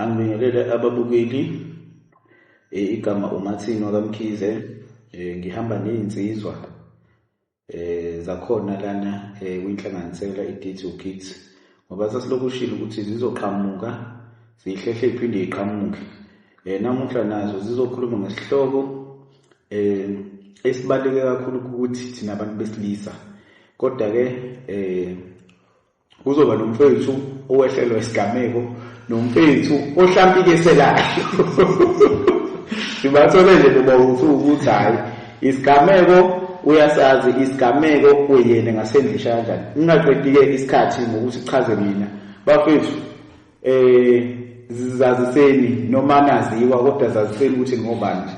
Angibingelele ababukeli eh, igama uMathini wakamkhize eh, ngihamba nezinsizwa eh zakhona lana eh, kwinhlanganisela iDT Kids ngoba sasilokushilo ukuthi zizoqhamuka zihlehle iphinde iqhamuke eh namuhla nazo zizokhuluma ngesihloko eh esibaleke kakhulu ukuthi thina abantu besilisa kodwa ke eh kuzoba nomfethu owehlelwa isigameko nomfethu ohlampikeselayo sibathole nje kuba ukuthi ukuthi hhayi isigameko uyasazi isigameko uyena ngasendlisha kanjani ngingaqedi-ke isikhathi ngokuthi chaze mina bafethu um zaziseni noma naziwa kodwa zaziseni ukuthi ngobani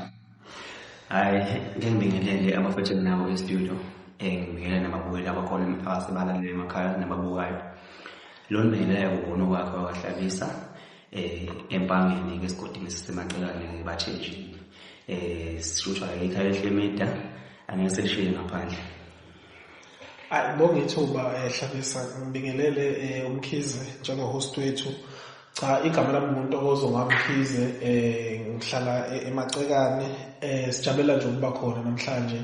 hayi ngeke ngibingelele abafethu enginabo estudio eh, ngibingelele nababukeli abakhona emphakathi balalele emakhaya nababukayo lo ndibingelele kubona okwakhe wakahlabisa eh empangeni ke sigodini sisemacalane ngibathenjini eh sishushwa ekhaya ehlemidah angeke seshiye ngaphandle Ayi bonge ithuba eh, Hlabisa ngibingelele eh, uMkhize njengohost wethu. Cha igama lami ngintokozo ngamkhize eh ngihlala e-, emacekane eh sijabulela nje ukuba khona namhlanje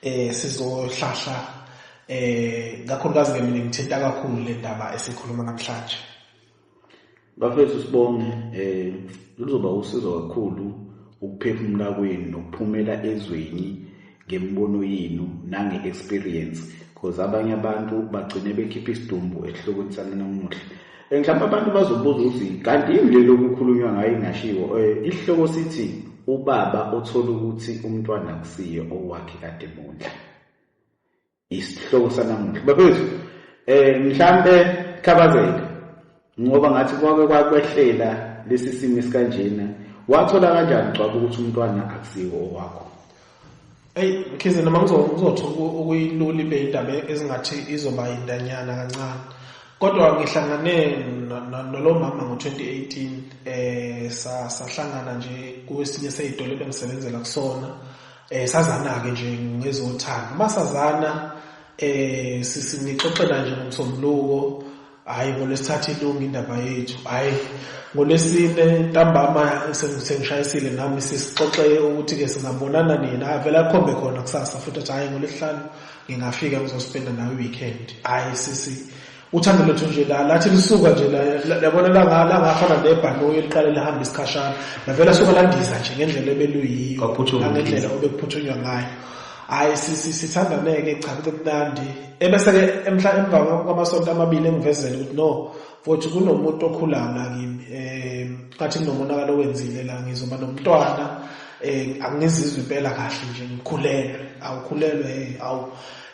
eh sizohlahla eh kakhulukazi ke mina ngithinta kakhulu le ndaba esikhuluma namhlanje. bafethu sibonge eh luzoba usizo kakhulu ukuphefumula kwenu nokuphumela ezweni ngemibono yenu nange-experience because abanye abantu bagcine bekhipha isidumbu esihlokweni sami namuhla um mhlawumbe abantu bazobuza ukuthi kanti yini leli okukhulunywa ngayo ingashiwo um eh, isihloko sithi ubaba othola ukuthi umntwana akusiye owakhe kade mondla Isihloko sanamuhla. Bafethu, eh mhlambe khabazeka ngoba ngathi kwake kwakwehlela lesi simo esikanjena wathola kanjani gcwaba ukuthi umntwana akusiwo owakho Ey khize noma ngizothola ukuyilula ibe indaba ezingathi izoba indanyana kancane. Kodwa ngihlangane nolomama ngo-2018 eh sahlangana nje kwesinye seyitolo ebengisebenzela kusona Eh sazana-ke nje ngezothando. Uma sazana eh sinixoxela nje ngomsombuluko hayi ngolwesithathu ilunga indaba yethu hayi ngolwesine ntambama sengishayisile nami sisixoxe ukuthi-ke singabonana nina avele akhombe khona kusasa futhi athi hhayi ngolwesihlanu ngingafika ngizosipenda nawe i-weekend hhayi sisi uthando lethu nje la lathi lisuka nje labona langafana nebhanoyi eliqale lihamba isikhashana navele asuka landiza nje ngendlela ebeluyiyo nangendlela obekuphuthunywa ngayo hhayi sithandaneke cha kube kunandi ebese-ke emhla emva kwamasonto amabili engivezele ukuthi no futhi kunomuntu okhulayo la kimi um ngathi kunomonakalo owenzile la ngizoba nomntwana um angizizwe impela kahle nje ngikhulelwe awukhulelwe awu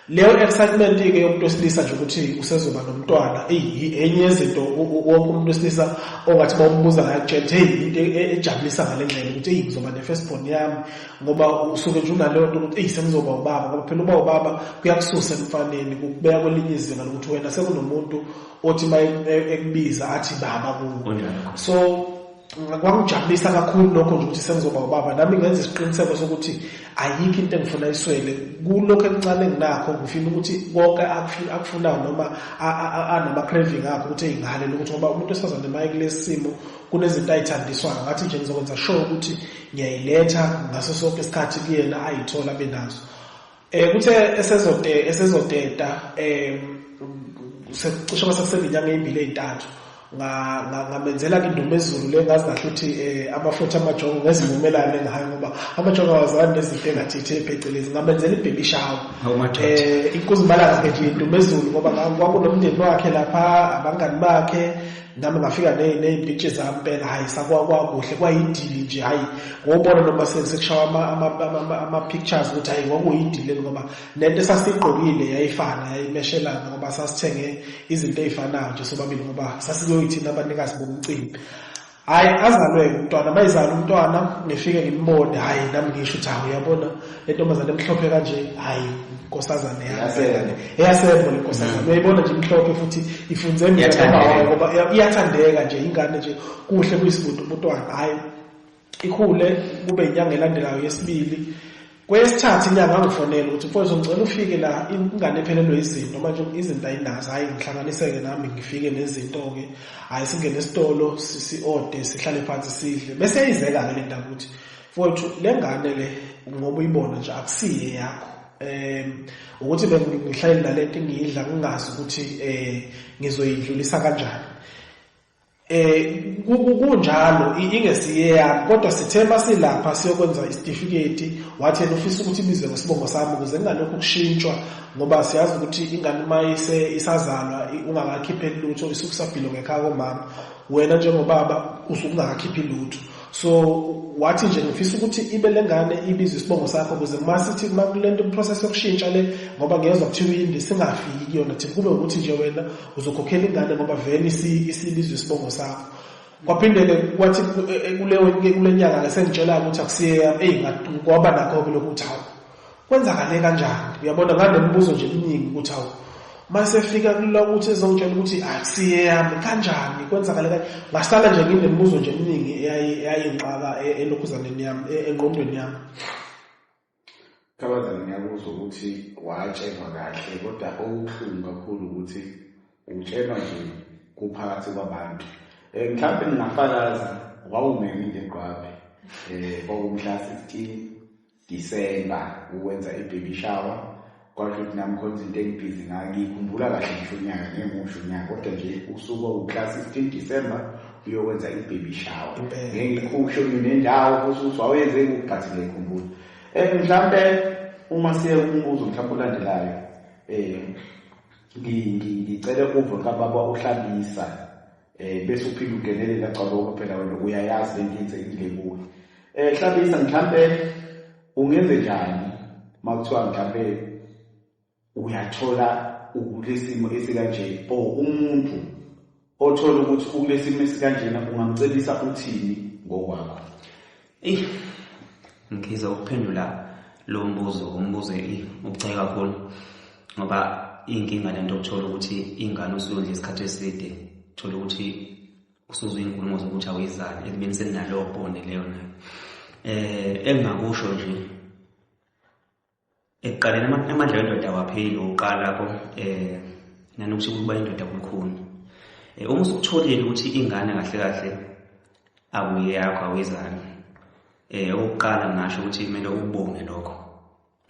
Leyo excitement ke yomuntu wesilisa nje ukuthi usezoba nomntwana eyi enye yezinto wonke umuntu wesilisa ongathi bawumbuza ngayo kutshela ukuthi hey into e, ejabulisa ngale ndlela ukuthi eyi ngizoba ne-first born yami ngoba usuke nje unaleyo nto ukuthi eyi sengizoba ubaba ngoba phela uba ubaba kuyakususa emfaneni kukubeka kwelinye izinga lokuthi wena sekunomuntu othi uma e, e, ekubiza athi baba kuwo so kwangijabulisa kakhulu lokho nje ukuthi sengizoba ubaba nami ngenza isiqiniseko sokuthi ayikho into engifuna iswele kulokho ekuncane nginakho ngifuna ukuthi konke akufunayo noma anama-craving akho ukuthi eyingahalela ukuthi ngoba umuntu esifazane maye kulesi simo kunezinto ayithandiswayo ngathi nje ngizokwenza sure ukuthi ngiyayiletha ngaso sonke isikhathi kuyena ayithole abe nazo Eh kuthe esezote esezoteta eh cishe masekuseminyaka emibili ezintathu ngamenzela ke indumo ezulu le ngazi kahle ukuthi eh, amafutha amajongo ngezivumelane ngayo ngoba amajongo awazani nezinto engathithi phecelezi ngamenzela ibhebi shawo um eh, inkuzimalanga ke nje indumo ezulu ngoba kwakunomndeni wakhe lapha abangani bakhe nami ngafika ney'mpintshi zami phela hhayi sakwakuhle kwayidili nje hhayi ngobona noma sekushawa ama-pictures ukuthi hhayi kwakuyidili ngoba nento esasiyigqokile yayifana yayimeshelana ngoba sasithenge izinto ey'fanayo nje sobabili ngoba sasikuyoyithina abanikazi bomcimbi hhayi azalwe umntwana mayizala umntwana ngifike ngimbone hhayi nami ngisho ukuthi hawu uyabona lentombazane emhlophe kanje hayi inkosazane yasembo eyasembo lenkosazane mm. uyayibona nje imhlophe futhi ifunze emnyangobawayo ngoba iyathandeka nje ingane nje kuhle kuyisibudu umntwana hayi ikhule kube inyanga elandelayo yesibili kwesithathu inyanga angifonela ukuthi mfowethu ngicela ufike la ingane ephelelwe izinto manje izinto ayinazo hhayi ngihlanganiseke nami ngifike nezinto-ke hhayi singene esitolo si-ode sihlale phansi sidle bese yayizeka-ke le nto ukuthi Mfowethu le ngane le ngoba uyibona nje akusiye yakho um ukuthi bengihlale nalento ngiyidla ngingazi ukuthi um ngizoyidlulisa kanjani eh kunjalo ingesiye yami kodwa sithe masilapha siyokwenza isitifiketi wathi yena ufisa ukuthi ibizwe ngesibongo sami ukuze kungalokhu ukushintshwa ngoba siyazi ukuthi ingane uma ise isazalwa ungakakhipheli lutho isukusabhilo ngekhaya komama wena njengobaba usuke ungakakhiphi lutho so wathi nje ngifisa ukuthi ibe lengane ibize isibongo sakho ukuze uma sithi uma kulento process yokushintsha le ngoba ngiyezwa kuthiwa uyindi singafiki kuyona thina kube ukuthi nje wena uzokhokhela ingane ngoba vele isibizwe isibongo sakho kwaphinde-ke kwathi eh, eh, kule nyanga-ke sengitshela-ke ukuthi akusiyeyami eyi ngoba nakho-ke lokhu ukuthi hawu Kwenzakale kanjani? Uyabona nganemibuzo nje eminingi ukuthi awu masefika kula ukuthi ezongitshela ukuthi akusiye yami kanjani kwenzakale kanje ngasala nje nginemibuzo nje eminingi eyayinqaka e, elokhuzaneni yami e, engqondweni yami Kabazana ngiyakuzwa ukuthi watshelwa kahle kodwa okuhlungu kakhulu ukuthi utshelwa nje kuphakathi kwabantu um mhlawumbe ngingafakaza wawumemi nje gqwabe um eh, kwawumhla sixteen December ukwenza ibaby shower kwasho ukuthi nami khona izinto engibhizi ngayo ngiyikhumbula kahle ngisho unyaka ngengimusho unyaka kodwa nje usuku owukla 16 December uyokwenza ibaby shower ngengikhusho nendawo kusho ukuthi wawenze kuphi but ngiyikhumbula and mhlampe uma siye umbuzo mhlawumbe olandelayo eh ngicele uve kababa uhlabisa Eh bese uphinde ugelele la cabonga phela wena uyayazi lento yenzekile kuwe. Eh hlabisa mhlambe ungenze njani makuthiwa mhlambe uyathola ukulesimo esikanje or umuntu othola ukuthi ukulesimo esikanjena ungamcebisa uthini ngokwakho. Eyi ngiza ukuphendula lo mbuzo umbuzo ubucayi kakhulu ngoba iyinkinga le nto ukuthola ukuthi ingane usuyondla isikhathi eside thola ukuthi usuze iyinkulumo zokuthi awuyizali ekubeni seninalowo bone leyo nayo um engingakusho nje Ekuqaleni amandla wendoda awapheli ngokuqala ko eh nanokuthi ukuba indoda kukhulu. Eh, uma usukutholile ukuthi ingane kahle kahle awuyeyakho awuyizali. Eh okokuqala ngasho ukuthi kumele ubonge lokho.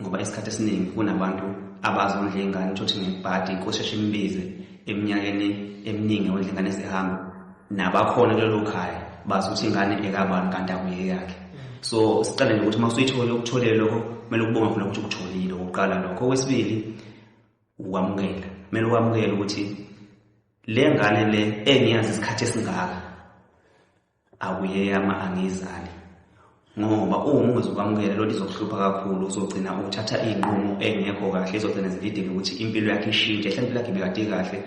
Ngoba isikhathi esiningi kunabantu abazondla ingane uthi ngebhadi kosheshe imbize eminyakeni eminingi ondla ingane zihamba nabakhona kulelo khaya bazi ukuthi ingane ekabani kanti akuyeyakhe so siqale nje ukuthi uma usuyithole ukutholele lokho kumele ukubonge khona ukuthi ukutholile okokuqala lokho okwesibili ukwamukela kumele ukwamukele ukuthi le ngane le engiyazi isikhathi esingaka akuyeyama angiyizali ngoba uma ungezokwamukela loo nto izokuhlupha kakhulu uzogcina ukuthatha iy'nqumo engekho kahle izogcina zilidele ukuthi impilo yakhe ishintshe hle impilo yakhe ibekade kahle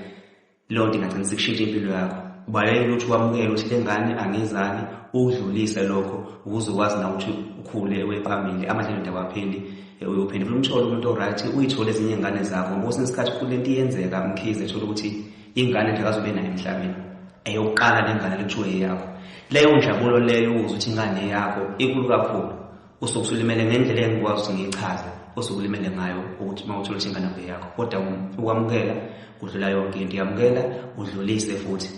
Leyo nto ingagcina sekushintsha impilo yakho. Ubalekele ukuthi wamukele ukuthi le ngane angizali, ukudlulise lokho ukuze ukwazi na ukuthi ukhule uye phambili, amadlelo nto awapheli. Uyophinde futhi umthole umuntu o-right, uyithole ezinye iy'ngane zakho ngoba kwesinye isikhathi futhi le nto iyenzeka umkhize ethole ukuthi ingane nje akazobe nayo emhlabeni eyokuqala le ngane le kuthiwe eyakho. Leyo njabulo leyo ukuzwa ukuthi ingane eyakho inkulu kakhulu. usuke usulimele ngendlela engikwazi ukuthi ngiyichaze osuke ulimele ngayo ukuthi uma uthola ukuthi ingane yakho yakho kodwa ukwamukela kudlula yonke into yamukela udlulise futhi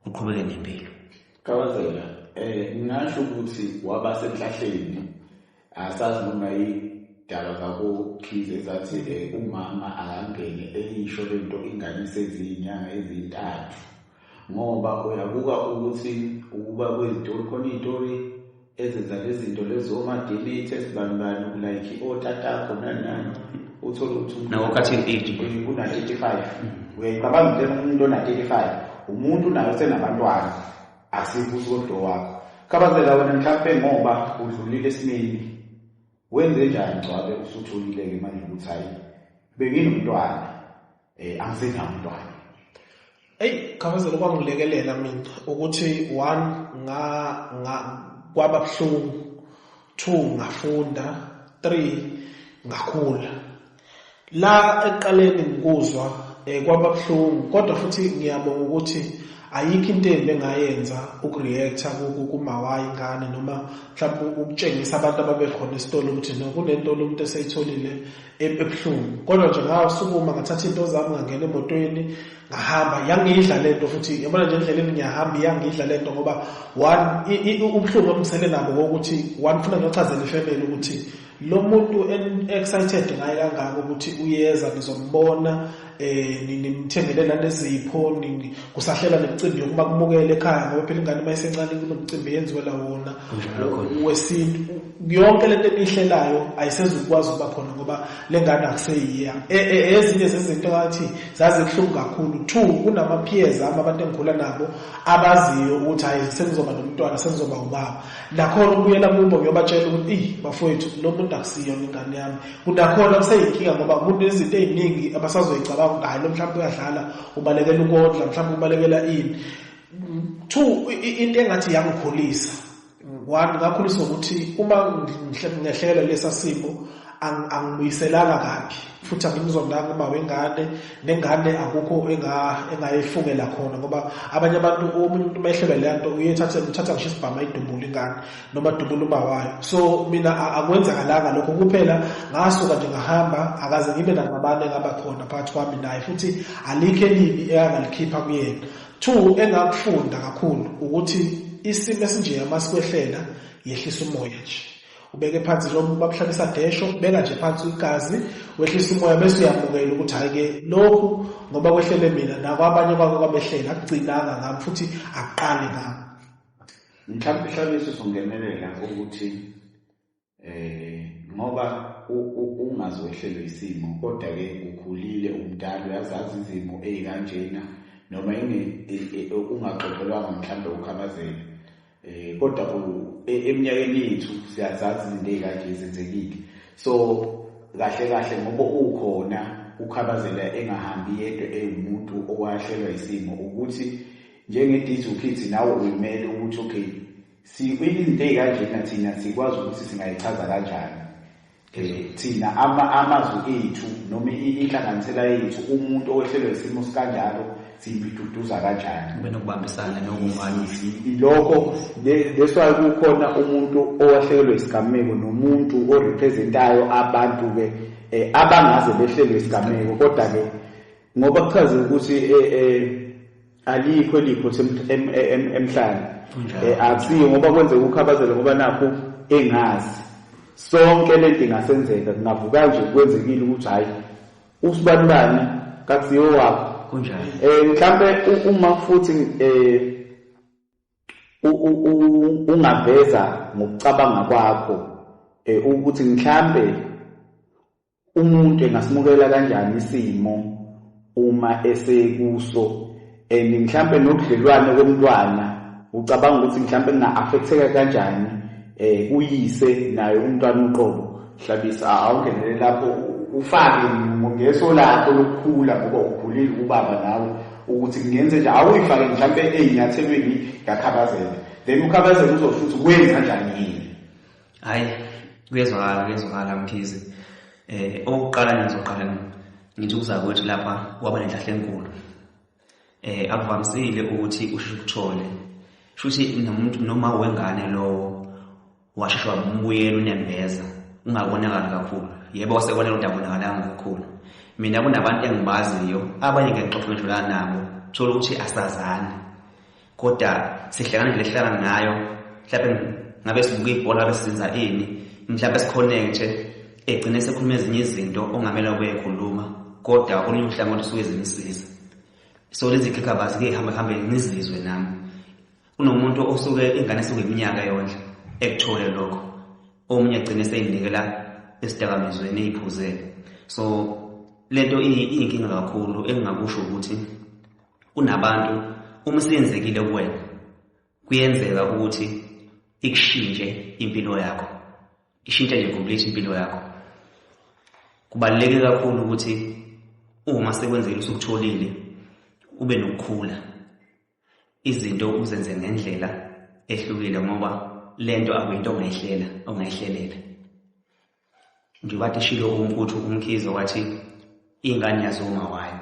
uqhubeke nempilo kawazela eh ngingasho ukuthi waba senhlahleni asazi noma yidaba zakokhize zathi eh, umama akangene eyisho lento ingane seziyinyanga ezintathu ngoba uyabuka ukuthi ukuba kwezitori khona izitori ezenza lezinto lezo omademate esibanibani ulayikhi otatakho nanani uthole ukuthi una-35 uyayicabanga into umuntu ona-35 umuntu nayo senabantwana asibusi kodwa wakho khabazela wena mhlawumpe ngoba udlulile esimeni Wenze njani Ngcwabe usutholile-ke manje ukuthi hhayi benginomntwana um angisenawo umntwana eyi khabazela okwangilekelela mina ukuthi one nga nga kwaba buhlungu two ngafunda three ngakhula La ekuqaleni ngikuzwa eh, kwababuhlungu kodwa futhi ngiyabonga ukuthi ayikho into embi engayenza ukureacta kumawayi ingane noma mhlawumbe ukutshengisa abantu ababekhona esitolo ukuthi no kunento lomuntu eseyitholile ebuhlungu kodwa nje ngasukuma ngathatha into zami ngangena emotweni ngahamba yangidla le nto futhi yabona nje endleleni ngiyahamba iyangidla le nto ngoba one ubuhlungu obusele nabo wokuthi one funa ngiyochazela ifemeli ukuthi lo muntu excited ngaye kangaka ukuthi uyeza nizombona eh nimthengele la nezipho kusahlela nemicimbi yokuba kumukele ekhaya ngoba phela ingane uma isencane kunomcimbi yenziwe la wona wesintu yonke lento enihlelayo ayisezukwazi ukuba khona ngoba lengane akuseyiya e, e, ezinye zezinto ngathi zaze kuhlungu kakhulu two kunama peers ama abantu engikhula nabo abaziyo ukuthi hayi sengizoba nomntwana sengizoba ubaba Nakhona ukubuyela kubo ngiyobatshela ukuthi eyi bafowethu lo muntu akusiyona ingane yami. Kunakhona kuseyinkinga ngoba umuntu izinto ey'ningi abasazoyicabanga ukuthi hhayi lo mhlawumpe uyadlala, ubalekela ukondla, mhlawumpe ubalekela ini. Two, into engathi yangikhulisa, one ngakhuliswa ukuthi uma ngehlekelwa lesa simo angibuyiselanga kabi futhi angimzondanga uma wengane nengane akukho engayifungela khona ngoba abanye abantu omunye umuntu umehlelwe le nto uyethathe uthatha ngisho isibhamu ayidubule ingane noma adubule uma wayo so mina akwenzakalanga lokho kuphela ngasuka nje ngahamba akaze ngibe nangabane engaba khona phakathi kwami naye futhi alikho elibi eyangalikhipha kuyena two engakufunda kakhulu ukuthi isimo esinjeya masikwehlela yehlisa umoya nje ubeke phansi noma uma kuhlabisa desho beka nje phansi igazi wehlisa umoya bese uyamukela ukuthi hayi-ke lokhu ngoba kwehlele mina nakwabanye kwako kwabehlela akugcinanga ngami futhi akuqali ngami mhlawumbe ihlabiso songenelela ukuthi eh ngoba ungazi wehlelwe isimo kodwa-ke ukhulile umdala uyazazi izimo eyikanjena noma e, e, ungaxoxelwanga mhlawumbe ukhabazela Eh kodwa ku e, eminyakeni yethu siyazazi izinto ezikade zenzekile. So kahle kahle ngoba ukhona ukhabazela engahambi yedwa ewumuntu owahlelwa isimo ukuthi njenge Dizu Kids nawe uyimele ukuthi okay sikwini izinto ezikanjena thina sikwazi ukuthi singayichaza kanjani Thina ama, amazwi ethu noma inhlanganisela yethu umuntu owehlelwe isimo sikanjalo siyibiduduza kanjani kube nokubambisana nokumanisi lokho that's why kukhona umuntu owahlekelwe isigameko nomuntu orepresentayo abantu ke eh, abangaze behlelwe isigameko kodwa ke ngoba kuchaze ukuthi eh, eh, alikho eliphutha emhlane eh, akusiyo ngoba kwenzeka ukhabazele ngoba nakho engazi sonke lento ingasenzeka kungavuka nje kwenzekile ukuthi hayi usibalulani kakusiyo wakho kunjani eh mhlambe uma futhi eh ungaveza ngokucabanga kwakho eh ukuthi mhlambe Umuntu engasimukela kanjani isimo uma esekuso and mhlampe nobudlelwane komntwana ucabanga ukuthi mhlampe kunga-affecteka kanjani eh uyise naye umntwana uqobo hlabisa awungenele lapho ufake ngeso lakho lokukhula ngoba ukhulile ubaba nawe ukuthi kungenze nje awuyifake mhlampe ezinyathelweni yakhabazela then ukhabazela uzosho ukuthi wenza njani yini hayi kuyezwakala kuyezwakala mkhize eh okuqala ngizoqala ngithi uzakwethu lapha waba nenhlahle enkulu eh akuvamisile ukuthi usheshe ukuthole shuthi nomuntu noma wengane lowo washeshe wabuyela unembeza ungabonakali kakhulu yebo wasekwanele ukuthi abonakalanga kakhulu mina kunabantu engibaziyo abanye ngiyexoxa ngidlulana nabo thola ukuthi asazani Koda sihlangana nje lehlangana ngayo mhlawumbe ngabe sibuka ibhola ngabe sizenza ini mhlawumbe sikhonekte egcine sekhuluma ezinye izinto ongamela ukuyikhuluma kodwa olunye uhlangothi usuke zimsiza so lezi khekhabazi ke hamba hambe ngizizwe nami kunomuntu osuke ingane esuke iminyaka yonke ekuthole lokho omunye egcine seyinikela esidakamizweni eyiphuzele so lento iyinkinga kakhulu engingakusho ukuthi Kunabantu uma siyenzekile kuwena kuyenzeka ukuthi ikushintshe impilo yakho. Ishintshe nje complete impilo yakho. Kubaluleke kakhulu ukuthi uma sekwenzile usukutholile ube nokukhula. Izinto uzenze ngendlela ehlukile ngoba lento akuyinto ongayihlela ongayihlelela. Njengoba eshilo uMfuthu uMkhize wathi ingane yazi uma wayo.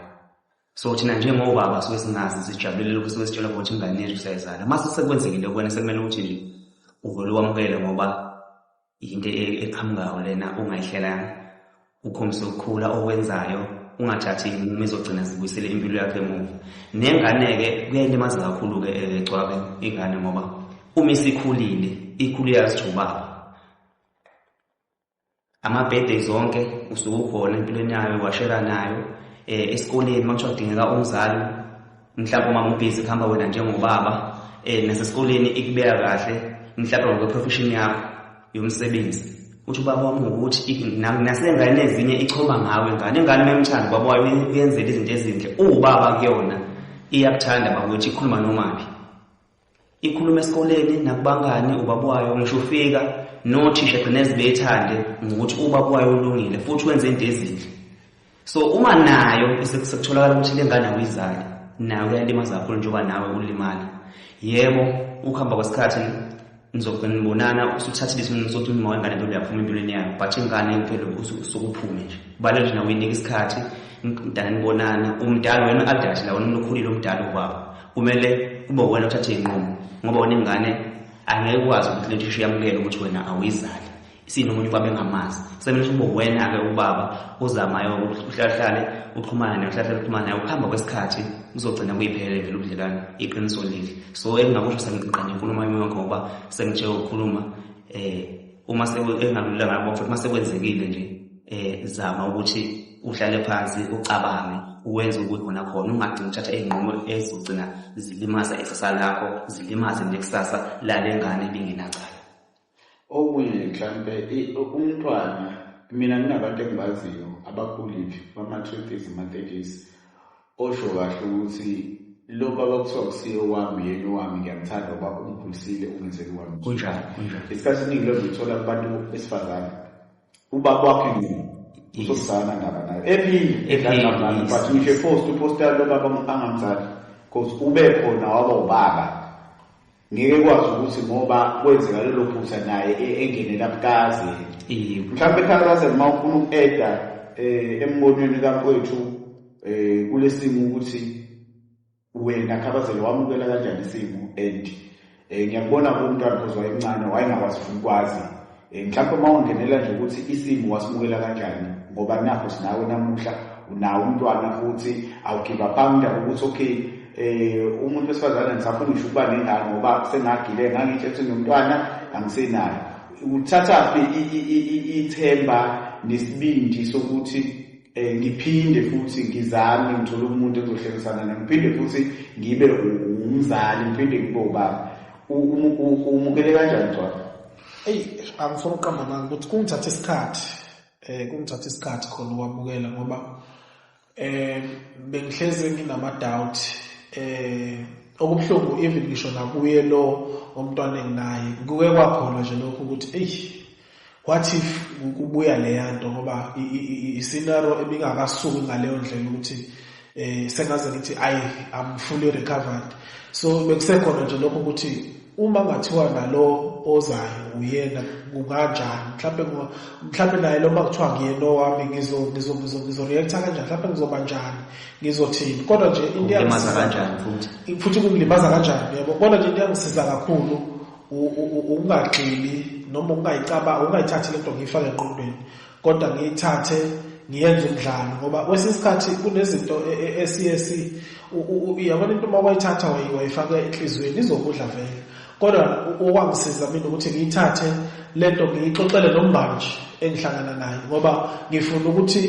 So thina njengobaba suke singazi sijabulele lokhu suke sitshela ukuthi ingane yethu siyayizala. Mase sekwenzekile kuwena sekumele ukuthi nje uvele wamukele ngoba yinto e-, eqhamukayo lena ongayihlelanga. Ukhombise ukukhula okwenzayo ungathathi inqumo ezogcina zibuyisele impilo yakhe emuva. Nengane-ke kuyayilimaza kakhulu-ke egcwabe eh, ingane ngoba uma isikhulile ikhulile yazijubaba ama-birthday zonke usuke ukhona empilweni yayo washela nayo um esikoleni uma kuthiwa kudingeka umzali mhlawumbe uma ubhizi kuhamba wena njengobaba um nasesikoleni ikubeka kahle mhlawumbe ngokweprofeshini yakho yomsebenzi uthi ubaba wami ngokuthi nasengane ezinye ichoma ngawe ngane ingane uma imthanda ubaba wayo uyenzela izinto ezinhle uwubaba kuyona iyakuthanda bakuthi ikhuluma nomaphi ikhuluma esikoleni nakubangani ubaba wayo ngisho ufika nothisha gcina ezibethande ngokuthi ubaba wayo ulungile futhi wenze into ezinhle so uma nayo sekutholakala ukuthi le ngane awuyizali nayo uyalimaza kakhulu njengoba nawe ulimala yebo ukuhamba kwesikhathi nizogcina nibonana usuthathile isinqumo sokuthi uma wengane nto uyaphuma empilweni yayo but ingane impilo usukuphume nje kubaluleke nje nawe uyinike isikhathi nidala nibonana umdala wena adade la wena umlokhulile umdala ubaba kumele kube wena othathe iy'nqumo ngoba wena ingane angeke ukwazi ukuthi lento isho yamukele ukuthi wena awuyizali sinomuntu kwabe ngamazi kusemele ukuthi kube wena-ke ubaba uzamayo uhlahlale uxhumane naye uhlahlale uxhumane naye ukuhamba kwesikhathi kuzogcina kuyiphelele vele ubudlelwane iqiniso leli so engingakusho sengiqinqanye inkulumo yami yonke ngoba sengithe ukukhuluma um uma engalulanga ngoba futhi uma sekwenzekile nje um zama ukuthi uhlale phansi ucabange uwenze ukuthi khona khona ungagcini uthatha iy'nqumo ezizogcina zilimaza ikusasa lakho zilimaze nekusasa lale ngane ibingenacala okunye mhlampe umntwana mina nginabantu engibaziyo abakhulile bama-thirties ama-thirties osho kahle ukuthi lo baba kuthiwa kusiye owami yena owami ngiyamthanda uba ungikhulisile ungenzeli wami kunjani kunjani isikhathi esiningi lozithola kubantu besifazane Uba kwakhe nini? Uzosana ndaba nayo. Ephinde edlala but ngisho post uposta lo baba angamzali. Cause ube khona waba ubaba. Ngeke kwazi ukuthi ngoba kwenzeka lelo phutha naye e-, engenela bukazi. Mhlawumbe ekhalaza uma ufuna uku-eda eh, embonweni kamfowethu eh kulesimo ukuthi wena khabazele wamukela kanjani isimo and um ngiyakubona kumntwana because wayemncane wayengakwazi funa ukwazi um eh, mhlawumpe uma ungenela nje ukuthi isimo wasimukela kanjani ngoba nakho sinawe namuhla unawo umntwana futhi awugiva phambi ukuthi okay um umuntu wesifazane ngisafuna ngisho ukuba nengane ngoba sengagile ngangitshe ukuthi nomntwana angisenayo uthathaphi ithemba nesibindi sokuthi Eh, ngiphinde futhi ngizame ngithole umuntu engizohlekisana naye ngiphinde futhi ngibe umzali ngiphinde ngibe ubaba umukele kanjani cwaka eyi angifuna uqamba mani ukuthi kungithatha isikhathi um kungithatha isikhathi khona ukwamukela ngoba um bengihlezi nginama-doubt um okubuhlungu even ngisho nakuye lo omntwana enginaye kuke kwakhona nje lokho ukuthi eyi what if kubuya leya nto ngoba isinaro ebingakasuki ngaleyo ndlela ukuthi eh sengaze ngithi ayi i'm fully recovered so bekusekhona nje lokho ukuthi uma ngathiwa nalo ozayo uyena kunganjani mhlawumbe mhlawumbe naye lo makuthiwa ngiyena owami ngizo ngizo ngizo ngizo react kanjani mhlawumbe ngizoba njani ngizothini kodwa nje into yangisiza kanjani futhi futhi kungilimaza kanjani yebo kodwa nje into yangisiza kakhulu ukungagxili noma ukungayicabanga ukungayithathi le nto ngiyifake engqondweni kodwa ngiyithathe ngiyenze umdlalo ngoba kwesinye isikhathi kunezinto e, e, esiye si yabona into uma wayithatha wayifaka enhliziyweni izokudla vele kodwa okwangisiza mina ukuthi ngiyithathe le nto ngiyixoxele nomngani nje engihlangana naye ngoba ngifuna ukuthi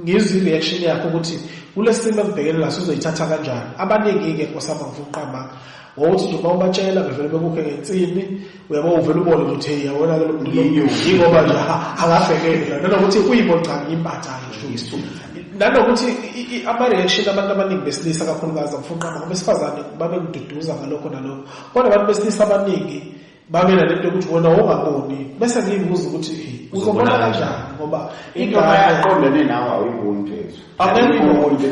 ngizwe i-reaction yakho ukuthi kule simo engibhekene naso uzoyithatha kanjani abaningi-ke nkosama ngifuna uqama wawuthi nje uma ubatshela bevele bekukhe ngensimbi uyabo uvele ubone ukuthi hey yawona ke lomlilo yingoba nje akafekele la nanokuthi uyimo cha ngimbatha ngisho isithunzi nanokuthi ama-reaction abantu abaningi besilisa kakhulukazi abafunqama ngoba esifazane babekududuza ngalokho nalokho kodwa abantu besilisa abaningi babela lento ukuthi wena ongaboni bese ngiyibuza ukuthi uzobona kanjani ngoba ingoma yaqondene nawe awuyiboni phezulu angiyiboni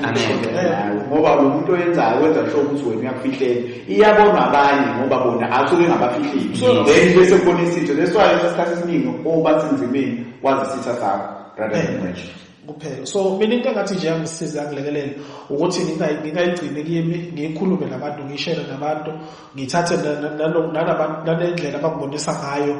ngoba lo muntu oyenzayo wenza sho ukuthi wena uyakufihleni iyabonwa abanye ngoba bona asuke engabafihleli then bese kubona isitho leswayo sesikhathi esiningi oba sinzimeni wazi isitha sakho rather than kuphela so mina into engathi nje yangisiza yangilekelela ukuthi ngingayigcini kimi ngiyikhulume nabantu ngiyishere nabantu ngithathe nanendlela abangibonisa ngayo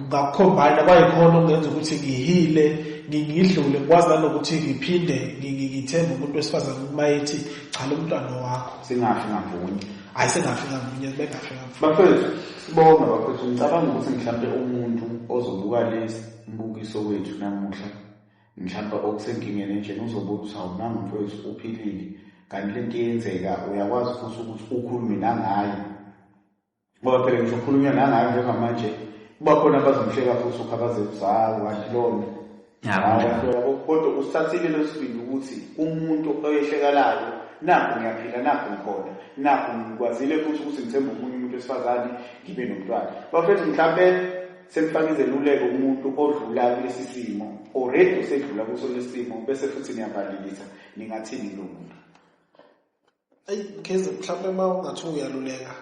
ngakukhombayina kwayikhona okungenza ukuthi ngihile ngidlule ngikwazi nanokuthi ngiphinde ngithembe umuntu wesifazane uma ethi cha lo mntwana wakho singafi ngamunye hayi singafi ngamunye bengafi ngamunye bafethu sibonga bafethu ngicabanga ukuthi mhlawumbe umuntu ozobuka lesi mbukiso wethu namuhla mhlawumbe okusenkingeni enjena uzobe uthi awumanga mfowethu uphilile kanti le nto iyenzeka uyakwazi futhi ukuthi ukhulume nangayo ngoba phela ngisho ukhulunywa nangayo njengamanje kuba khona abazomhleka futhi ukhabazezayo kanti lona kodwa usithathile lesibindi ukuthi umuntu oyehlekalayo nakho ngiyaphila nakho ngikhona nakho ngikwazile futhi ukuthi ngithembe omunye umuntu wesifazane ngibe nomntwana bafethu mhlawumbe Sengifaka izeluleko kumuntu odlula kulesi simo already usedlula kuso lesi simo bese futhi niyabalilisa ningathini kulo muntu ayi keze mhlawumbe uma ungathi uyaluleka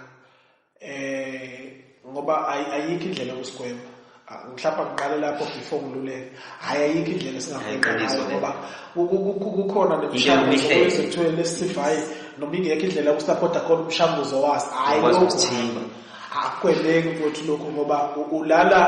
eh ngoba ayikho indlela yokusigwema ah, mhlawumbe ngiqale lapho before ngiluleke hhayi ayikho indlela esingahaiqiniso ngoba kukhona nemishanguzo kwezethweni lesisivayi noma ingekho indlela yokusapota khona umshanguzo waso hhayi akweleki mfowethu lokhu ngoba ulala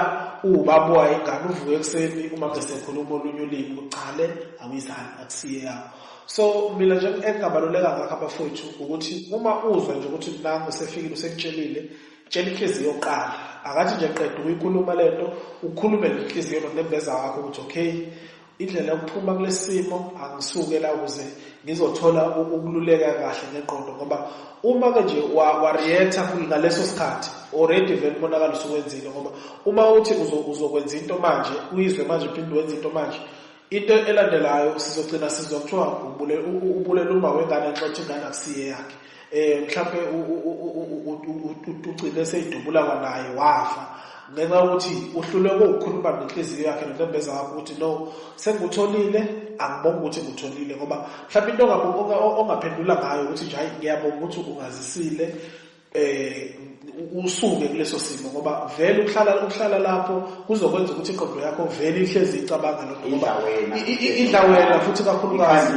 uwubaba wayo ingane uvuke ekuseni uma besekhuluma olunye ulimi uqale awuyizani akusiye yakho so mina nje engingabaluleka ngakho abafowethu ukuthi uma uzwa nje ukuthi nangu usefikile usekutshelile tshela inhliziyo yokuqala akathi nje qeda ukuyikhuluma le nto ukhulume nenhliziyo nonembeza wakho ukuthi okay Indlela yokuphuma kulesimo angisuke la ukuze ngizothola ukululeka kahle ngengqondo ngoba uma ke nje wareacta ngaleso sikhathi already vele umonakalo usuwenzile ngoba uma uthi uzokwenza into manje uyizwe manje uphinde wenza into manje into elandelayo sizogcina sizwa kuthiwa ubulela uma wengane nxa uthi ingane akusiye yakhe eh mhlawumbe ucine seyidubula kwanaye wafa ngenxa yokuthi uhluleke ukukhuluma nenhliziyo yakhe nonembeza wakho ukuthi no sengikutholile angibonga ukuthi ngikutholile ngoba mhlawumbe into ongaphendula ngayo ukuthi nje hayi ngiyabonga ukuthi ungazisile um usuke kuleso simo ngoba vele ukuhlala ukuhlala lapho kuzokwenza ukuthi iqondo yakho vele ihlezi icabanga lokho ngoba idla wena futhi kakhulukazi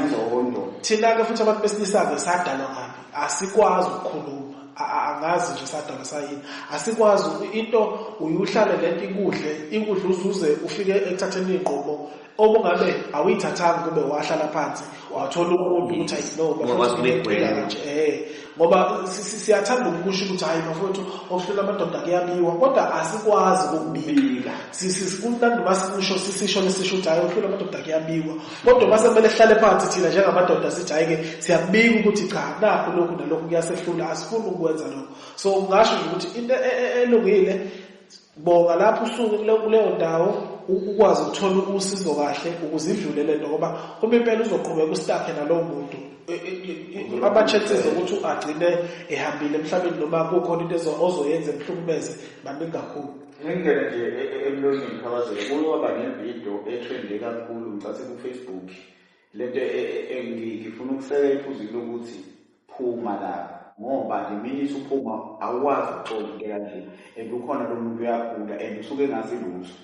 thina ke futhi abantu besilisa-ke sadalwa ngaphi asikwazi ukukhuluma angazi nje sadalwa sayini asikwazi into uyuhlale lento ikudle ikudle uzuze ufike ekuthatheni iy'nqumo okungabe awuyithathanga kube wahlala phansi wathola umuntu ukuthi ayinobafuthibephela kanje eh ngoba siyathanda ukusho ukuthi hayi bafowethu okuhlola amadoda kuyabiwa kodwa asikwazi ukubika sikunandi uma sikusho sisisho lesisho ukuthi hayi okuhlola amadoda kuyabiwa kodwa uma sekumele sihlale phansi thina njengamadoda sithi hhayi-ke siyakubika ukuthi cha nakho lokhu nalokhu kuyasehlula asifuni ukukwenza lokho so ngasho nje ukuthi into e, e, e, elungile Bonga lapho usuke kuleyo ndawo ukwazi ukuthola usizo kahle ukuze idlule lento ngoba uma impela uzoqhubeka ustakhe nalowo muntu e, e, e, ama-chances okuthi agcine ehambile emhlabeni noma kukhona into ozoyenza emhlukumeze maningi kakhulu ngingena nje emlonyeni khabazela kuyoba nevidiyo ethwende kakhulu ngicathi kufacebook lento engifuna ukusekela iphuzile ukuthi phuma la ngoba nje mina isuphuma awukwazi ukuxola into kanje and ukhona lo muntu uyagula and usuke engazi lutho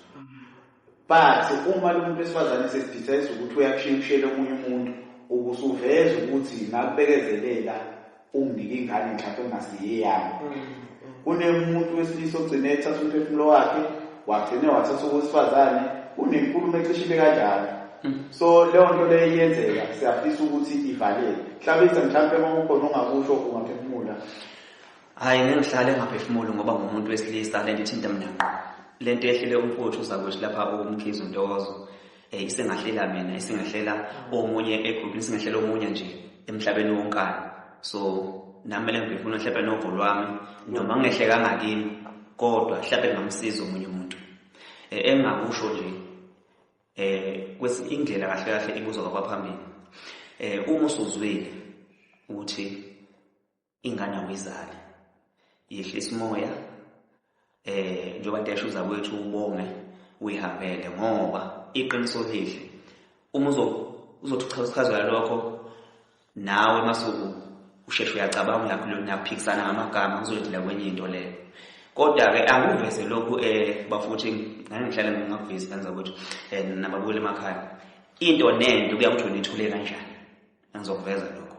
but uma lo muntu wesifazane esesidecise ukuthi uyakushiya ushiyele omunye umuntu ubusuveza ukuthi ngakubekezelela unginike ingane mhlawumbe engasiyeyami mm. kunemuntu wesilisa ogcine ethatha umphefumulo wakhe wagcine wathatha owesifazane kunenkulumo ecishile kanjalo hmm. so leyo nto leyo iyenzeka siyafisa ukuthi ivalele hlabisa mhlawumpe uma kukhona ongakusho ungaphefumula hhayi ngeke ngihlale ngaphefumuli ngoba ngumuntu wesilisa le nto ithinta mina ngqo le nto yehlele umfowethu uzakwethu lapha umkhizi untokozo Eh, isengahlela mina isengahlela omunye egroup isengahlela omunye nje emhlabeni wonkana so nami le ngifuna hlepe novo lwami noma ngehle kangakini kodwa hlepe ngamsiza omunye umuntu eh, engingakusho nje eh kwesi indlela kahle kahle ibuzwa kwaphambili eh uma usuzwile ukuthi ingane awuyizali yehlisa umoya eh njengoba ndesho uzakwethu ubonge uyihambele ngoba iqiniso lihle uma uzothi uchazwa lokho nawe masuku usheshe uyacabanga uyakhulula uyaphikisana ngamagama uzodila kwenye into leyo kodwa-ke angiveze lokhu um eh, bafuthi ngangihlale ngingakuvezi kanza ukuthi um eh, nababuyela emakhaya into nento kuya kuthi wena ithule kanjani Ngizokuveza lokho.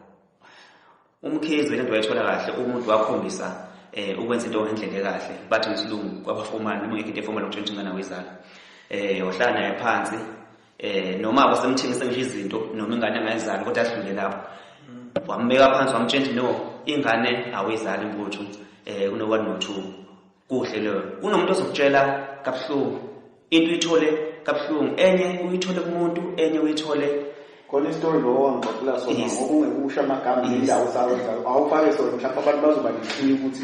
Umkhize lento wayithola kahle umuntu wakhombisa eh ukwenza into ngendlela ekahle bathi ngesilungu kwabafomana noma ngeke into efoma lokutshintsha ingane wezala. Eh wahlala naye phansi eh noma abasemthengisa ngisho izinto noma ingane engayizali kodwa ahlule lapho. Wambeka phansi wamtshentsha no ingane awuyizali mfuthu eh kuno 1 no 2. kuhle leyo kunomuntu ozokutshela kabuhlungu into uyithole kabuhlungu enye uyithole kumuntu enye uyithole khona isitori lo wangixoxela sona Yes. ngoba ungekusho amagama Yes. nendawo sawenza awufake sona mhlawumbe abantu bazoba neshiya ukuthi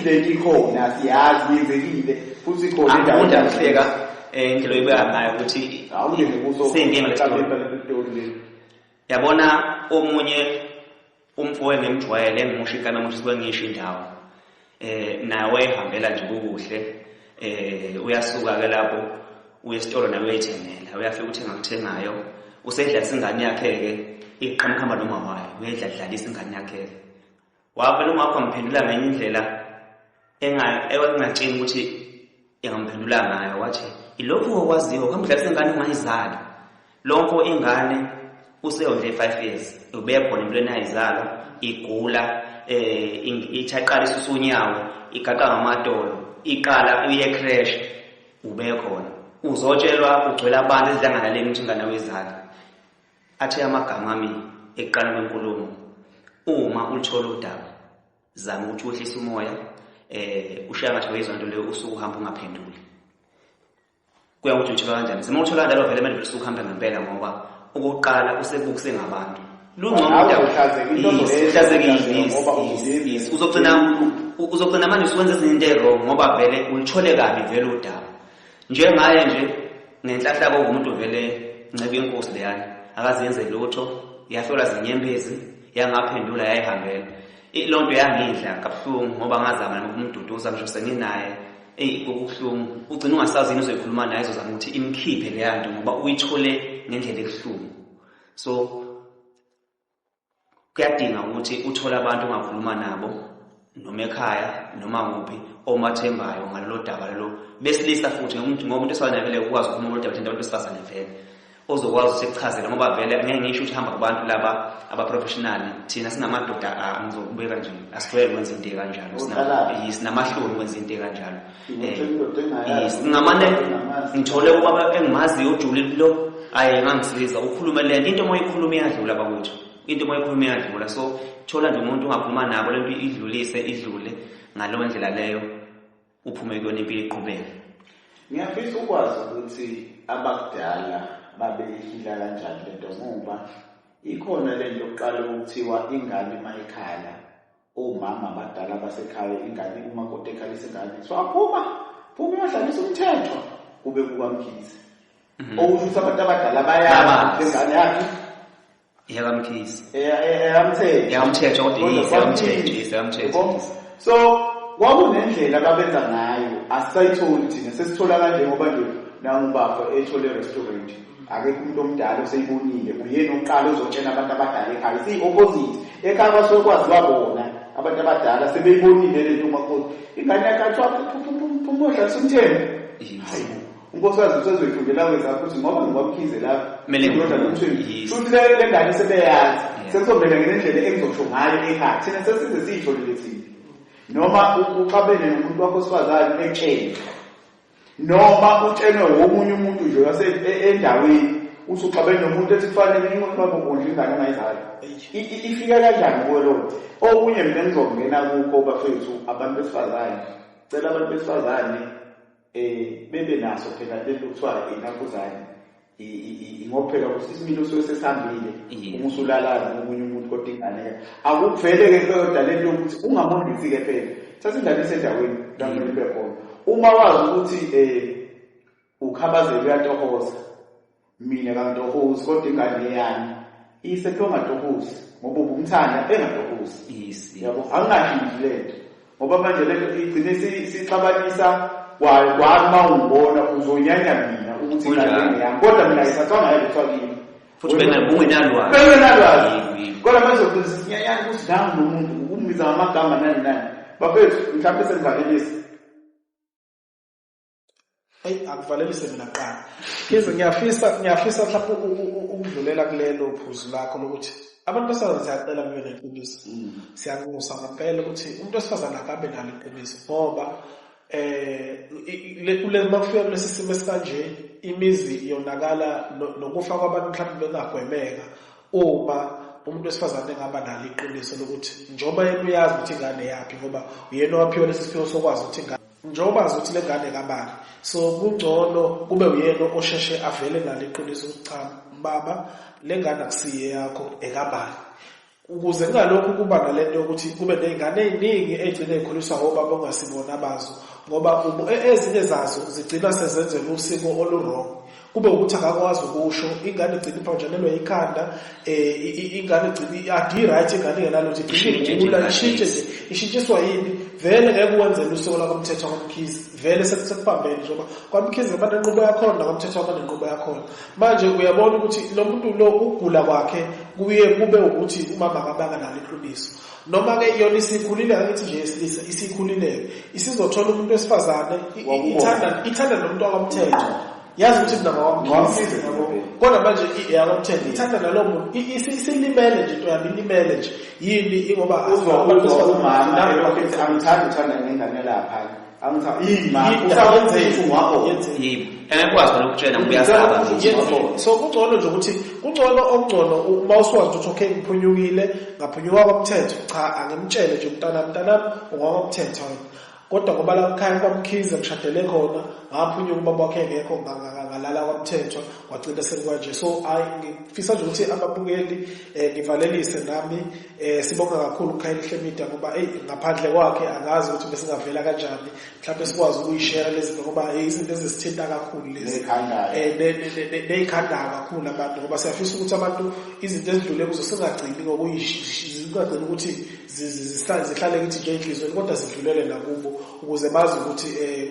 le nto ikhona siyazi yenzekile futhi ikhona indawo angifunda kuhleka eh, indlela oyibeka ngayo ukuthi awungene kuso seyinkinga le story. Mhlawumbe le story le. yabona omunye Umfo engimjwayele engimusho ikana muthi suke ngisho indawo. Eh naye wayehambela nje kukuhle. Eh uyasuka ke lapho uye esitolo naye uyayithengela. Uyafika uthenga kuthengayo. Usedla isingane yakhe ke iqhamukhamba noma wayo uyedla dlalisa ingane yakhe. Wavela ungakho ngiphendula ngenye indlela engatsheni ukuthi engamphendula ngayo wathi ilokhu okwaziyo kamdlalisa ingane ungayizali lonke ingane useyondle i-five years ubeya khona into enayizalwa igula um ithaqala isusa unyawo igaqa ngamadolo iqala uye crash ubeya khona uzotshelwa ugcwela abantu ezidlangalaleni ukuthi ingane wezala athe amagama ami ekuqala kwenkulumo uma uluthola udaba zama ukuthi wehlise umoya eh ushaya ngathi wayizwa into leyo usuku uhamba ungaphenduli kuya ukuthi uthola kanjani sima uthola kanjalo vele manje usuku uhamba ngempela ngoba okokuqala usebukuse ngabantu uzogcina manje usuwenza ezinye into ewrong ngoba vele ulithole kabi vele udaba Njengaye nje ngenhlahlako ngumuntu vele nceba inkosi leyana akazenze lutho yahlolwa zinyembezi yangaphendula yayihambela loo nto yangidla kabuhlungu ngoba ngazama nokumduduza ngisho senginaye eyi kokubuhlungu ugcina ungasazi yini uzoyikhuluma naye izozama ukuthi imkhiphe leya nto ngoba uyithole ngendlela ebuhlungu so Kuyadinga ukuthi uthole abantu ongakhuluma nabo noma ekhaya noma kuphi omathembayo ngalolo daba lelo besilisa futhi ngoba umuntu esanakele ukwazi ukukhuluma ngololu daba thina abantu besifazane vele ozokwazi ukuthi ekuchazele ngoba vele ngeke ngisho ukuthi hamba kubantu laba abaprofessionali thina singamadoda angizokubeka nje asijwayele ukwenza into ekanjalo sinamahloni ukwenza into ekanjalo ngingamane ngithole ubaba engimaziyo ujulile lo ayi ngangisiza ukhulume le nto into uma uyikhuluma iyadlula bakwethu into uma uyikhuluma iyadlula so thola nje umuntu ungakhuluma nabo le nto idlulise idlule ngaleyo ndlela leyo uphume kuyona impilo iqhubeke ngiyafisa ukwazi ukuthi abakudala babeyihila kanjani le nto ngoba ikhona le nto yokuqala okuthiwa ingane uma ikhala Omama abadala basekhaya ingane umakoti ekhalisa ingane so aphuma phuma uyodlalisa umthetho kube kukamkhize Mhm. okusho ukuthi abantu abadala bayazi Bayazi. lengane yakhe Eyakamkhisi. eyamthetho Eyamthetho, kodwa Kodwa yes, eyamthetho, kwamkhize. yes, eyamthetho. Yabo? so kwakunendlela ababenza ngayo asisayitholi thina sesithola kanje ngoba nje nangubafo ethole restaurant akekho umuntu omdala oseyibonile uyena oqala ozotshela abantu abadala ekhaya siyi-opposite ekhaya basuke kwaziwa bona abantu abadala sebeyibonile le nto umakoti ingane yakhe athiwa phumodla sumthembe hayi unkosikazi usezoyifundela wezakho ukuthi ngoba ngikwamkhize lapho ndoda nomthweni futhi le ngane sebeyazi sekuzomele ngenendlela engizosho ngayo ekhaya thina sesize siyitholile thina noma uxabene nomuntu wakho osifazane etsheni noma utshenwe womunye umuntu nje wase e-, endaweni uthi uxabene nomuntu ethi kufanele inqondo babo kondla ingane ongayizali ifika kanjani kuwe loo nto okunye mina ngizongena kukho bafethu abantu besifazane cela abantu besifazane um bebe naso phela lento kuthiwa inakuzane ngokuphela ukuthi isimilo suke sesihambile uma usulalala ngomunye umuntu kodwa ingane ke akuvele ke kuyoda lento yokuthi ungamondisi ke phela thatha ingane isendaweni la kumele ibe khona uma wazi ukuthi um ukhabazela uyatohoza mina kangitohozi kodwa ingane eyami isetongadohozi ngoba ubumthanda engatohozi yabo angingashintshi lento ngoba manje le nto igcine sixabanisa kwayo kwami uma ungibona uzonyanya mina ukuthi ingane yami kodwa mina ayisatshwanga yayo kuthiwa kimi futhi bengenalwazi bengenalwazi kodwa manje uqinisa sinyanyana ukuthi nami nomuntu ukumbiza ngamagama nani nani bafethu mhlawumbe sengivalelisa eyi akuvalelise mina kuqala ize ngiyafisa ngiyafisa mhlawumbe ukudlulela kulelo phuzu lakho lokuthi abantu besifazane siyacela kube neqiniso mm. siyanxusa ngempela ukuthi umuntu wesifazane akabe nalo iqiniso ngoba eh kule makufika kulesi simo esikanje imizi yonakala nokufa kwabantu mhlawumbe bengagwemeka uma umuntu wesifazane engaba nalo iqiniso lokuthi njengoba yena uyazi ukuthi ingane yaphi ngoba uyena owaphiwa lesi siphiwo sokwazi ukuthi ingane njengoba azi ukuthi le ngane kabani so kungcono kube uyena osheshe avele nalo iqiniso ukuthi cha baba le ngane akusiye yakho ekabani ukuze kungalokhu kuba nale nto yokuthi kube ney'ngane ey'ningi ey'gcine y'khuliswa ngobaba ongasibona bazo ngoba e-, ezinye zazo zigcina sezenzela usiko olurong kube ukuthi akakwazi ukusho ingane igcina iphanjanelwa ikhanda um ingane igcina adi-right ingane ingenalutho igcina ishintshe nje ishintshiswa yini vele ngeke uwenzele usiko lakomthetho kwamkhize vele sekubambene njengoba kwamkhize banenqubo yakhona nakomthetho abanenqubo yakhona manje uyabona ukuthi lo muntu lo ukugula kwakhe kuye kube ukuthi umama akabanga nalo iqiniso noma ke yona isikhulile angithi nje isilisa isikhulile isizothola umuntu wesifazane ithanda ithanda nomuntu wakamthetho yazi ukuthi mina ngawamsiza kodwa manje iyakamthetho ithanda nalowo muntu isilimele nje into yami ilimele nje yini ingoba uzwa umama angithandi uthanda ngengane lapha so kungcono nje ukuthi kungcono okungcono uma usuwazi ukuthi okay ngiphunyukile ngaphunyuka komthetho cha angimtshele nje mntanami mntanami ungakomthetho wena kodwa ngoba la mkhaya kwamkhize ngishadele khona ngaphunyuka ubaba wakhe ngekho ngalala kwamthetho wagcina selikwanje so hayi ngifisa nje ukuthi ababukeli um ngivalelise nami Eh sibonga kakhulu uKhayihle Media ngoba hey ngaphandle kwakhe angazi ukuthi besingavela kanjani mhlawumbe sikwazi ukuyishare lezi zinto ngoba hey izinto ezisithinta kakhulu lezi eh nezikhanda kakhulu abantu ngoba siyafisa ukuthi abantu izinto ezidlule kuzo singagcini ngokuyishingagcini ukuthi zihlale kithi nje enhlizweni kodwa zidlulele nakubo ukuze bazi ukuthi eh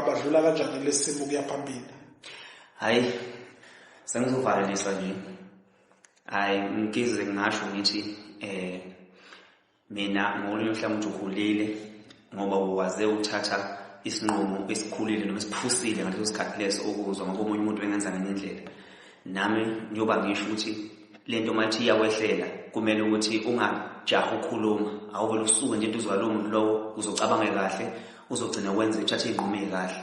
badlula kanjani lesimo kuyaphambili hayi sengizovalelisa nje hayi ngize ngingasho ngithi eh mina ngolunye uhlangothi ukhulile ngoba waze uthatha isinqumo esikhulile noma esiphusile ngaleso sikhathi leso ukuzwa ngoba omunye umuntu bengenza ngenye indlela nami ngiyoba ngisho ukuthi le nto mayithi iyakwehlela kumele ukuthi ungajaha ukhuluma awuvele usuke nje into uzwa lowo muntu lowo uzocabanga kahle uzogcina wenze uthathe iy'nqumo ey'kahle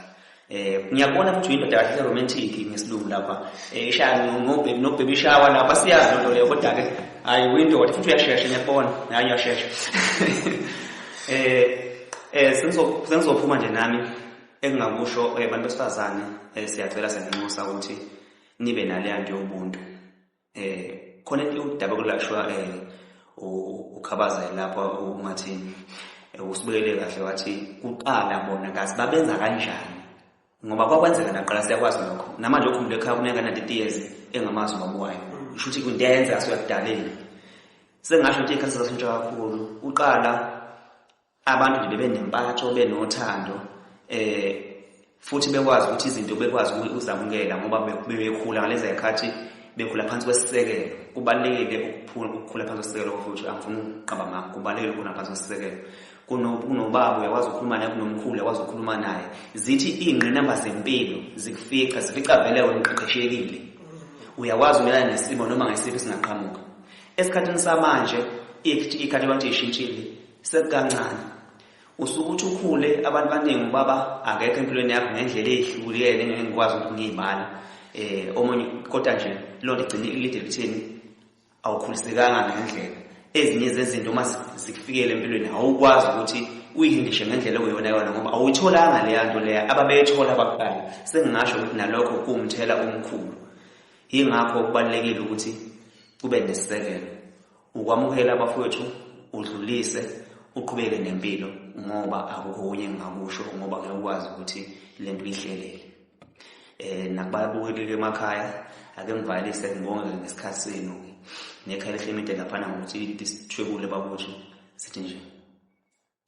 Eh ngiyabona futhi indoda kahle romantic ngesilungu lapha. Eh ishaya ngobhebi nobhebi ishawa lapha siyazi lento leyo kodwa ke hayi windoda futhi uyashesha ngiyabona. Hayi uyashesha. Eh eh sengizo sengizophuma nje nami engingakusho eh, abantu besifazane eh, siyacela senginxusa ukuthi nibe naleya nto yobuntu. eh khona into yokudaba kulashwa eh ukhabaza lapho ungathi eh, usibekele kahle wathi kuqala bona kazi babenza kanjani ngoba kwakwenzeka naqala siyakwazi lokho namanje okhumule ekhaya kuneka na 30 years engamazi ubaba wayo usho ukuthi kundenza asuyakudaleni sengasho ukuthi ikhasi zasintsha kakhulu uqala Abantu nje bebenempatho benothando eh futhi bekwazi ukuthi izinto bekwazi ukuzamukela ngoba bebekhula ngalezi zikhathi bekhula phansi kwesisekelo kubalulekile ukukhula phansi kwesisekelo futhi angifuni ukuqaba ngakho kubalulekile ukukhula phansi kwesisekelo kunobaba uyakwazi ukukhuluma naye kunomkhulu uyakwazi ukukhuluma naye zithi iy'ngqinamba zempilo zikufica zifica vele wena uqeqeshekile uyakwazi umelana nesimo noma ngesiphi singaqhamuka esikhathini samanje ikhathi abantu ishintshile Sekukancane. Usuke uthi ukhule abantu baningi ubaba akekho empilweni yakho ngendlela eyehlukile ngeke ngikwazi ukuthi ngiyibala. Eh omunye kodwa nje lonto igcine ilide lithini awukhulisekanga ngendlela. Ezinye zezinto uma zikufikele empilweni awukwazi ukuthi uyihindishe ngendlela okuyona yona ngoba awuyitholanga leya nto leya ababeyithola abaqala sengingasho ukuthi nalokho kuwumthela omkhulu yingakho kubalulekile ukuthi kube nesisekelo ukwamukela abafowethu udlulise uqhubeke nempilo ngoba akukunye engingakusho ngoba ngeke ukwazi ukuthi le nto uyihlelele um nakubabukelile emakhaya ake ngivalise ngibonge ngesikhathi senu nekhaya lehle imide laphana ngokuthi sithwebule bakwethu sithi nje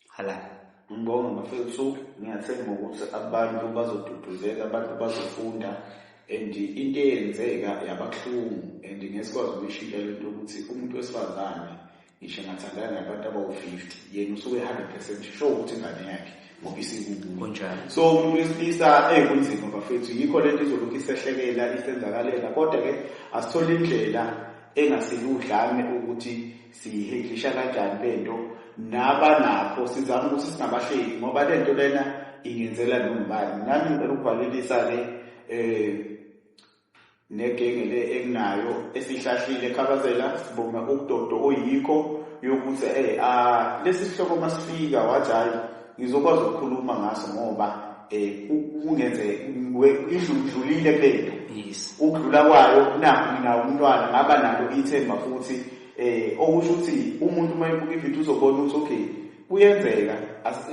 Halala. Ngibonga bafethu ngiyathemba ukuthi abantu bazoduduzeka abantu bazofunda and into eyenzeka yababuhlungu and ngesikwazi ukuyishintsha lento ukuthi umuntu wesifazane ngisho engathandana nabantu abawu-fifty yena usuke hundred percent sho ukuthi ingane yakhe ngoba isikukunjalo so umuntu wesilisa eyi kunzima bafethu yikho le nto izolokhu isehlekela isenzakalela kodwa-ke asithole indlela engasiludlame ukuthi Siyihendlisha kanjani le nto naba nakho sizama ukuthi singabahleki ngoba le nto lena ingenzela nongubani. Nami ngicela ukuvalelisa-ke um negenge le enginayo esihlahlile ekhabazela sibonga ubudodo oyikho yokuthi um lesi sihloko masifika wathi hhayi ngizokwazi ukukhuluma ngaso ngoba um kungenze idlulile kulento ukudlula kwayo nakho mina umntwana ngaba nalo ithemba futhi um okusho ukuthi umuntu uma ebuka ividiyo uzobona ukuthi okay kuyenzeka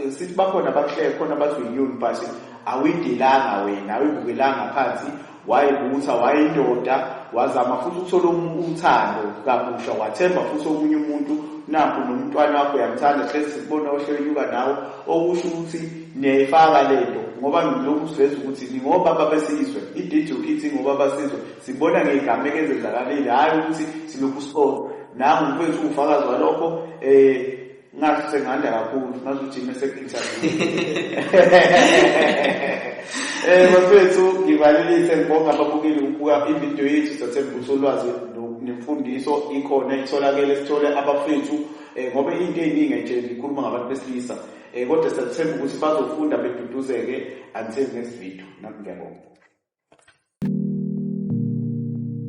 sithi bakhona abakuhleke khona abathi uyiyoni but awuyidelanga wena awuyibukelanga phansi wayibutha wayindoda wazama futhi ukuthola uthando kabusha wathemba futhi omunye umuntu nakho nomntwana wakho uyamthanda hlezi sikubona ohlenyuka nawe okusho ukuthi niyayifaka le nto ngoba ngilokhu siveza ukuthi ningobaba besizwe ididi yokithi ingobaba sizwe sibona ngey'gameko ezenzakalile hhayi ukuthi silokhu sibona nangu mfethu ufakazi walokho um ngathi senganda kakhulu ngathi ujime sekinjani eh bafethu ngibalilise ngibonga ababukeli ukubuka ivideo yethu sathembisa ulwazi nemfundiso ikhona itholakele sithole abafethu eh, ngoba into eningi nje ngikhuluma ngabantu besilisa eh, kodwa sathemba ukuthi bazofunda beduduzeke until next video nami ngiyabonga